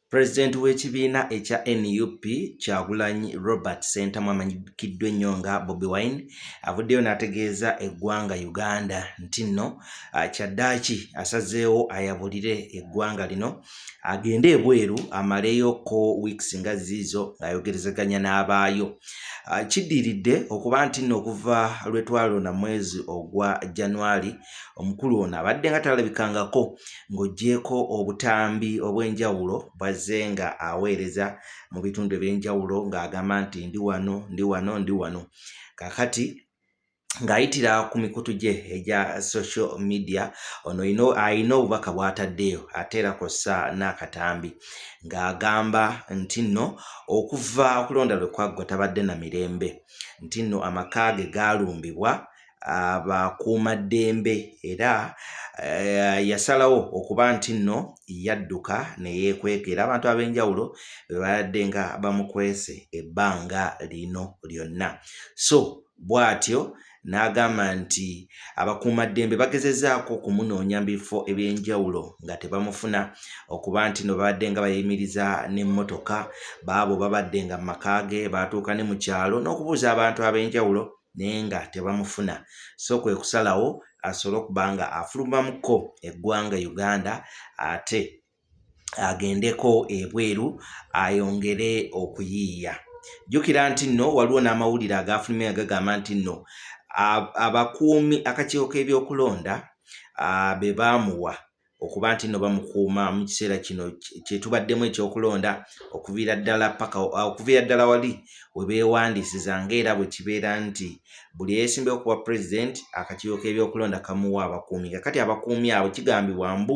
President w'ekibiina ekya nup Kyagulanyi Robert Ssentamu amanyikiddwa ennyo nga Bobi Wine avuddeyo n'ategeeza eggwanga Uganda nti nno ah, kyaddaaki asazeewo ayabulire eggwanga lino agende ebweru amaleyo ko weeks nga ziizo ng'ayogerezeganya n'abaayo. Ah, kiddiridde okuba nti nno okuva lwe twalonda mwezi ogwa January omukulu ono abadde nga talabikangako ng'oggyeeko obutambi obw'enjawulo bw'azze nga aweereza mu bitundu eby'enjawulo ng'agamba nti ndi wano ndi wano ndi wano kakati ng'ayitira ku mikutu gye egya social media ono ino alina obubaka bw'ataddeyo ate era kw'ossa n'akatambi ng'agamba nti nno okuva okulonda lwe kwaggwa tabadde na mirembe nti nno amaka ge gaalumbibwa abakuumaddembe era eh, yasalawo okuba nti nno yadduka ne yeekweka era abantu ab'enjawulo be babadde nga bamukwese ebbanga lino lyonna so bw'atyo n'agamba nti abakuumaddembe bagezezaako okumunoonya mu bifo eby'enjawulo nga tebamufuna okuba nti no babadde nga bayimiriza n'emmotoka baabo babadde nga mu maka ge baatuuka ne mu kyalo n'okubuuza abantu ab'enjawulo naye nga tebamufuna so kwe kusalawo asobole okuba nga afulumamuko eggwanga Uganda ate agendeko ebweru ayongere okuyiiya. Jjukira nti nno waliwo n'amawulire agaafulumye nga gagamba nti nno abakuumi akakiiko k'ebyokulonda be baamuwa okuba nti nno bamukuuma mu kiseera kino kyetubaddemu ekyokulonda okuviira ddala paka okuviira ddala wali we beewandiisiza nga era bwe kibeera nti buli eyeesimbyewo ku bwa pulezidenti akakiiko k'ebyokulonda kamuwa abakuumi nga kati abakuumi abo kigambibwa mbu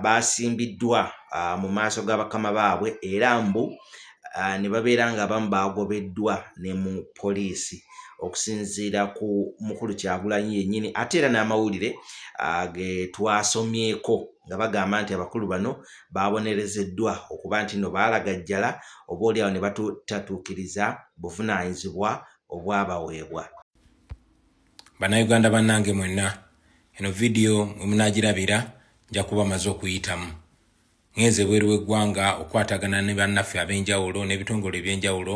baasimbiddwa mu maaso ga bakama baabwe era mbu ah, ne babeera nga abamu baagobeddwa ne mu poliisi okusinziira ku mukulu kyagulanyi yennyini ate era n'amawulire ah, ge twasomyeko nga bagamba nti abakulu bano baabonerezeddwa okuba nti no baalagajjala oba oliawo ne batutatuukiriza buvunaanyizibwa obwabaweebwa bannayuganda bannange mwenna eno vidiyo mwe munaagirabira nja kuba maze okuyitamu Ngenze ebweru w'eggwanga okukwatagana ne bannaffe ab'enjawulo n'ebitongole eby'enjawulo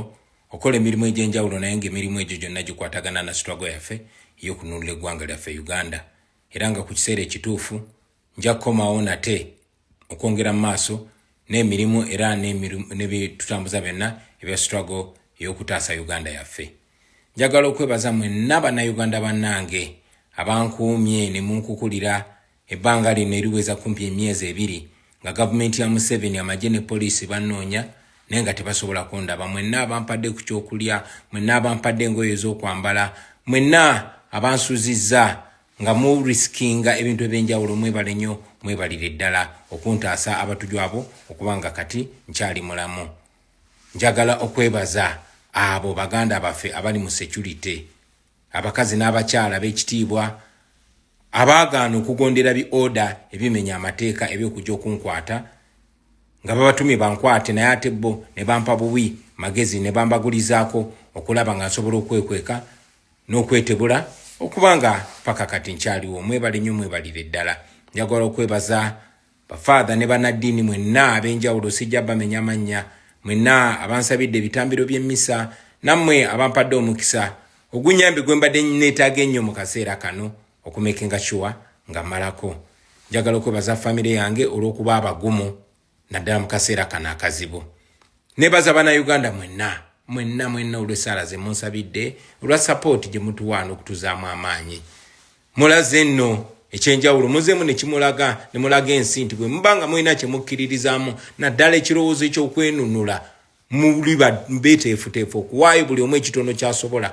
okukola emirimu egy'enjawulo naye ng'emirimu egyo gyonna gikwatagana na sitwago yaffe ey'okununula eggwanga lyaffe Uganda era nga ku kiseera ekituufu nja kukomawo nate okwongera mu maaso n'emirimu era nebitutambuza byonna ebya sitwago ey'okutaasa Uganda yaffe. Njagala okwebaza mwenna bannayuganda bannange abankuumye ne munkukulira Ebbanga lino eriweza kumpi emyezi ebiri nga gavumenti ya Museveni, amagye ne poliisi bannoonya naye nga tebasobola kundaba. Mwenna abampadde ku kyokulya, mwenna abampadde engoye ez'okwambala, mwenna abansuzizza nga mu risikinga ebintu eby'enjawulo mwebale nnyo mwebalire ddala okuntaasa abatujju abo okuba nga kati nkyali mulamu. Njagala okwebaza abo baganda baffe abali mu securite. Abakazi n'abakyala ab'ekitiibwa abaagaana okugondera bi oda ebimenya amateeka eby'okujja okunkwata nga babatumye bankwate naye ate bo ne bampa bubi magezi ne bambagulizaako okulaba nga nsobola okwekweka n'okwetebula okuba nga paka kati nkyaliwo. Mwebale nnyo mwebalire ddala. Njagala okwebaza Bafaadha ne bannaddiini mwenna ab'enjawulo sijja bamenya mannya, mwenna abansabidde ebitambiro by'emmisa, nammwe abampadde omukisa ogunnyambe gwe mbadde nneetaaga ennyo mu kaseera kano okumekinga sure nga mmalako. Njagala okwebaza ffamire yange olw'okuba abagumu naddala mu kaseera kano akazibu. Neebaza Bannayuganda mwenna mwenna mwenna olw'essaala ze munsabidde, olwa sapooti gye mutuwa n'okutuzaamu amaanyi. Mulaze nno ekyenjawulo muzeemu ne kimulaga ne mulaga ensi nti bwe muba nga mulina kye mukkiririzaamu naddala ekirowoozo eky'okwenunula muli beteefuteefu okuwaayo buli omu ekitono ky'asobola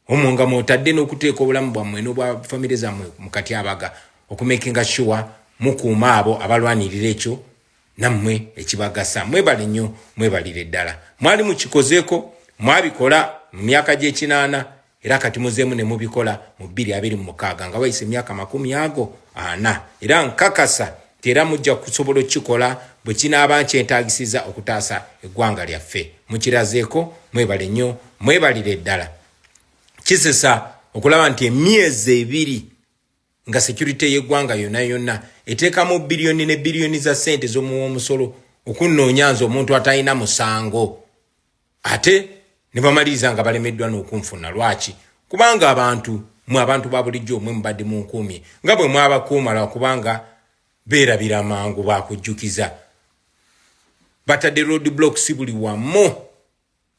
omwo nga mwotadde n'okuteeka obulamu bwammwe n'obwa famire zammwe mu katyabaga okumekinga shuwa mukuuma abo abalwanirira ekyo nammwe ekibagasa mwebale nnyo mwebalire ddala mwali mukikozeeko mwabikola mu myaka gy'ekinaana Era kati muzeemu ne mubikola mu bbiri abiri mu mukaaga nga wayise emyaka makumi ago ana, era nkakasa nti era mujja kusobola okukikola bwe kinaaba nkyetaagisiza okutaasa eggwanga lyaffe. Mukirazeeko, mwebale nnyo, mwebalire ddala. Kisesa okulaba nti emyezi ebiri nga securite y'eggwanga yonna yonna eteekamu biliyoni ne biliyoni za ssente z'omuwa omusolo okunnoonya nze omuntu atalina musango. ate ne bamaliriza nga balemeddwa n'okunfuna lwaki kubanga abantu mwe abantu ba bulijjo mwe mubadde mu nkuumi nga bwe mwabakuuma lwa kubanga beerabira mangu baakujjukiza batadde road block si buli wamu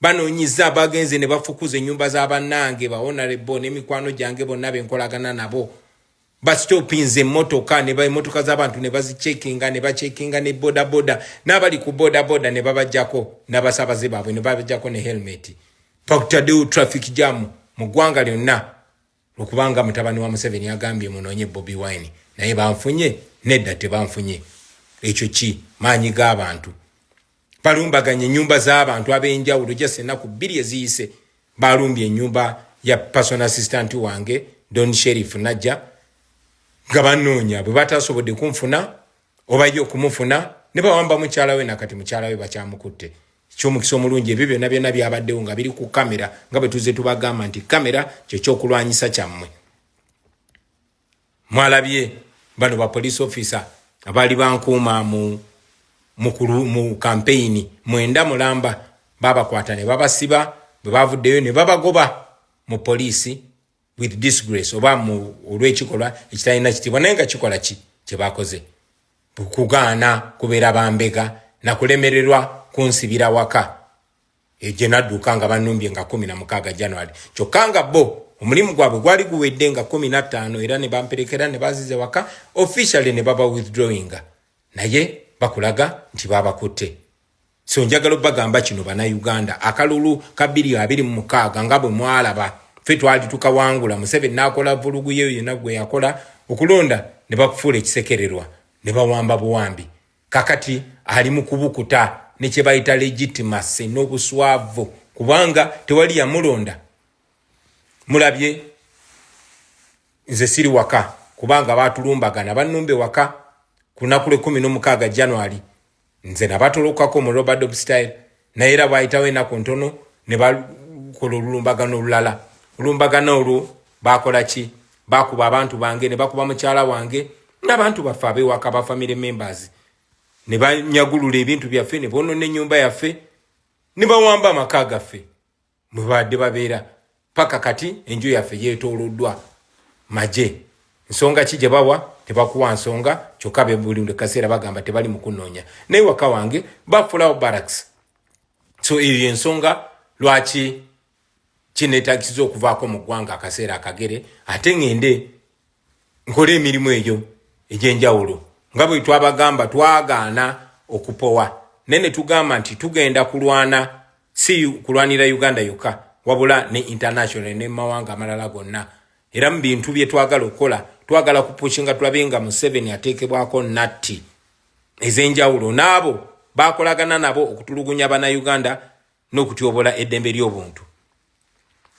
banoonyiza abagenze ne bafukuza ennyumba za bannange bawonarebo n'emikwano gyange bonna be nkolagana nabo basitopinze emmotoka ne baemmotoka z'abantu ne bazicekinga ne bacekinga ne bodaboda n'abali ku bodaboda ne babajjako n'abasaabaze baabwe ne babajjako ne helmeti pakutaddewo traffic jam mu ggwanga lyonna okubanga mutabani wa museveni agambye munoonye bobi wine naye banfunye nedda tebanfunye ekyo ki maanyi g'abantu balumbaganye enyumba z'abantu ab'enjawulo just ennaku bbiri eziyise balumbye enyumba ya personal assistant wange don sherif najja nga banoonya bwe batasobodde kunfuna obaye okumufuna ne bawamba mukyala we nakati mukyala we bakyamukutte ekyomukisa omulungi ebyo byonna byonna byabaddewo nga biri ku kamera nga bwe tuzze tubagamba nti kamera kyekyokulwanyisa kyammwe mwalabye bano ba police officer abaali bankuuma mu mukulu mu campaign mwenda mulamba babakwata ne babasiba bwe bavuddeyo ne babagoba mu police with disgrace oba mu olw'ekikolwa ekitalina kitiibwa naye nga kikola ki kye bakoze kugaana kubeera bambega na kulemererwa kunsibira waka Eyo gye nadduka nga bannumbye nga kkumi na mukaaga January kyokka nga bo omulimu gwabwe gwali guwedde nga kkumi na ttaano era ne bamperekera ne banziza ewaka officially ne baba withdrawinga naye bakulaga nti baabakutte. So njagala obagamba kino bannayuganda akalulu ka bbiri abiri mu mukaaga nga bwe mwalaba ffe twali tukawangula Museveni n'akola vvulugu ye yonna gwe yakola okulonda ne bakufuula ekisekererwa ne bawamba buwambi kakati ali mu kubukuta ne kye bayita legitimacy n'obuswavu kubanga tewali yamulonda mulabye nze siri waka kubanga baatulumbagana bannumba ewaka ku lunaku lw'ekkumi n'omukaaga january nze nabatolokako mu robert obstyle naye era bwayitawo enaku ntono ne bakola olulumbagano olulala olumbagano olwo bakola ki bakuba abantu bange ne bakuba mukyala wange n'abantu baffe abewaka ba family members ne banyagulula ebintu byaffe ne bonona ennyumba yaffe ne bawamba amaka gaffe mwebaadde babeera paka kati enju yaffe yetoloddwa maje nsonga ki gyebawa tebakuwa nsonga kyokka bebuli kaseera bagamba tebali mukunoonya naye waka wange bafulawo baraks so eyo yensonga lwaki kinetagisiza okuvaako mu ggwanga akaseera akagere ate ngende nkole emirimu egyo egy'enjawulo nga bwe twabagamba twagaana okupowa naye ne tugamba nti tugenda kulwana si kulwanira uganda yokka wabula ne international ne mumawanga amalala gonna era mu bintu bye twagala okukola twagala kupushinga tulabe nga museveni ateekebwako natti ez'enjawulo n'abo bakolagana nabo okutulugunya banauganda n'okutyobola eddembe ly'obuntu.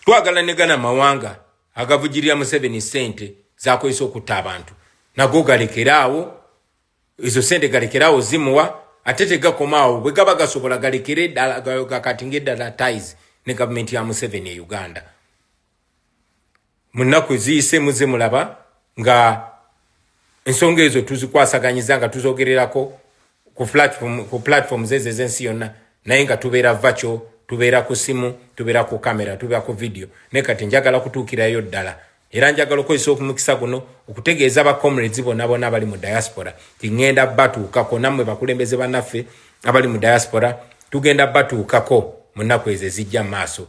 Twagala ne gana mawanga agavujirira Museveni ssente zakozesa okutta abantu nago galekeraawo, ezo ssente galekeraawo zimuwa ate tegakomaawo bwe gaba gasobola galekere ddala gakatinga eddala ties ne gavumenti ya Museveni e Uganda. mu nnaku eziyise muzze mulaba nga ensonga ezo tuzikwasaganyiza nga tuzogererako ku platform ku platform zezo ezensi yonna naye nga tubeera vaco tubeera ku simu tubeera ku kamera tubeera ku vidiyo naye kati njagala kutuukirayo ddala era njagala okozesa okumukisa guno okutegeeza bacomrades bona bona abali mu diaspora tiŋŋenda batuukako nammwe bakulembeze banaffe abali mu diaspora tugenda batuukako mu nnaku ezo ezijja mu maaso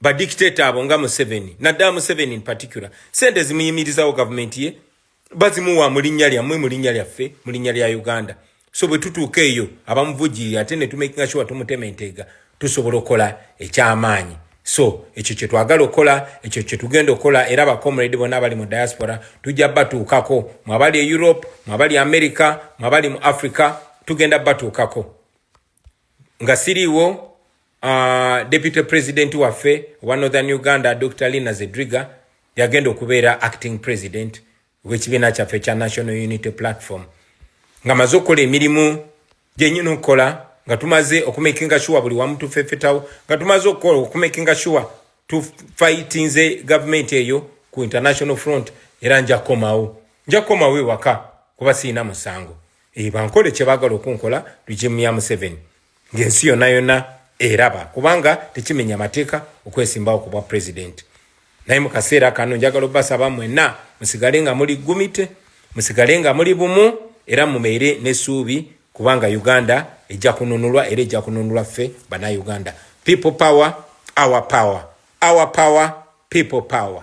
badictator abo nga museveni naddala museveni in particular sente zimuyimirizawo gavumenti ye bazimuwa mu linnya lyammwe mu linnya lyaffe mu linnya lya uganda so bwe tutuuka eyo abamuvujjirira ate ne tumakinga sure tumutema enteega tusobola okukola eky'amaanyi so ekyo kye twagala okukola ekyo kye tugenda okukola era abacomrade bonna abali mu diaspora tujja batuukako mwabali e europe mwabali america mwabali mu africa tugenda batuukako nga siriiwo uh, deputy president waffe owa northern uganda dr lina zedriga yagenda okubeera acting president wekibiina kyaffe kya national unity platform nga maze okukola emirimu gyenyini okukola nga tumaze okumakinga sure buli wamu tufefetawo nga tumaze okukola okumakinga sure tufightinze gavumenti eyo ku international front era nja kukomawo nja kukomawo ewaka kuba siina musango Eyo bankole kyebagala okunkola regime ya Museveni ng'ensi yonna yonna eraba kubanga tekimenya mateeka okwesimbawo ku bwa pulezidenti naye mu kaseera kano njagala obasaba mwenna musigale nga muli gumite musigale nga muli bumu era mumeere n'essuubi kubanga uganda ejja kununulwa era ejja kununulwa ffe banauganda people power our power our power people power